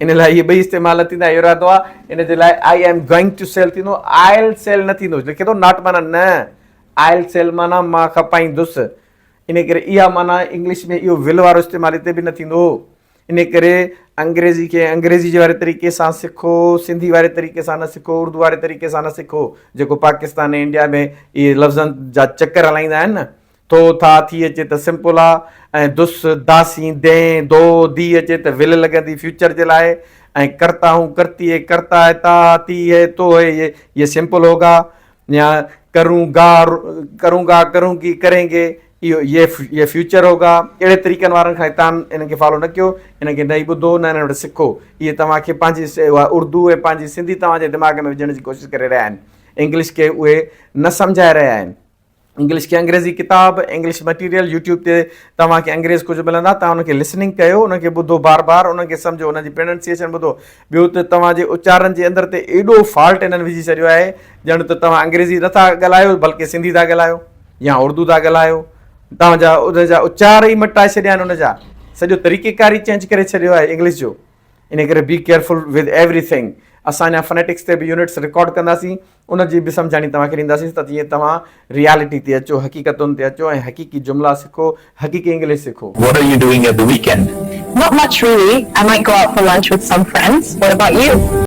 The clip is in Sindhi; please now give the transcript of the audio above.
ان لاء اهي ٻئي استعمال نه ٿيندا، اهو ارادو آهي، ان جي لاء I am going to sell ٿيندو، آئل سيل نه ٿيندو، لکي ٿو ناٽ معنيٰ نه، آئل سيل معنيٰ مان کپائيندس، ان ڪري اها معنيٰ انگلش ۾ اهو ول وارو استعمال هتي به نه ٿيندو، ان ڪري انگريزي کي انگريزي جي واري طريقي سان سکو، سنڌي واري طريقي سان نه سکو، اردو واري طريقي سان نه سکو، جيڪو پاڪستان ۽ انڊيا ۾ اهي لفظن جا چڪر هلائيندا آهن نه، ٿو، ٿا، ٿي اچي ته سمپل آ ۽ دس، داسين، دين، دو، دي اچي ته ول لڳندي فيوچر جي لاء ۽ ڪرتا هون، ڪرتي هي، ڪرتا هي، تا ها، تي هي، تو هي، يي، يي سمپل هوگا يا ڪرون گا، ڪرون گا، ڪرون گي، ڪرين گي، اهو، يي، يي فيوچر هوگا. اهڙي طريقن وارن کان تان انهن کي فالو نه ڪيو، انهن کي نه ئي ٻڌو، نه انهن وٽ سکو. اهي توهان کي پنهنجي اها اردو ۽ پنهنجي سنڌي توهان جي دماغ ۾ وجهڻ جي ڪوشش ڪري رهيا آهن. انگلش کي اهي نه سمجهائي رهيا آهن. انگلش کي انگريزي ڪتاب انگلش مٽيريل يوٽيوب تي توهان کي انگريز ڪجهه ملندا توهان ان کي لسننگ ڪيو ان کي ٻڌو بار بار ان کي سمجهو ان جي پرننسيشن ٻڌو ٻيو ته توهان جي اچارن جي اندر تي ايڏو فالٽ انهن وجهي ڇڏيو آهي ڄڻ ته توهان انگريزي نٿا ڳالهايو بلڪه سنڌي ٿا ڳالهايو يا اردو ٿا ڳالهايو توهان جا ان جا اچار ئي مٽائي ڇڏيا آهن ان جا سڄو طريقيڪار ئي چينج ڪري ڇڏيو آهي انگلش جو انهي ڪري be careful with everything. اسان اڃا فنيٽڪس تي به يونٽس رڪارڊ ڪنداسين، ان جي به سمجهاڻي توهان کي ڏينداسين ته جيئن توهان ريئلٽي تي اچو، حقيقتن تي اچو ۽ حقيقي جملا سکو، حقيقي انگلش سکو. What are you doing at the weekend؟ Not much really. I might go out for lunch with some friends. What about you؟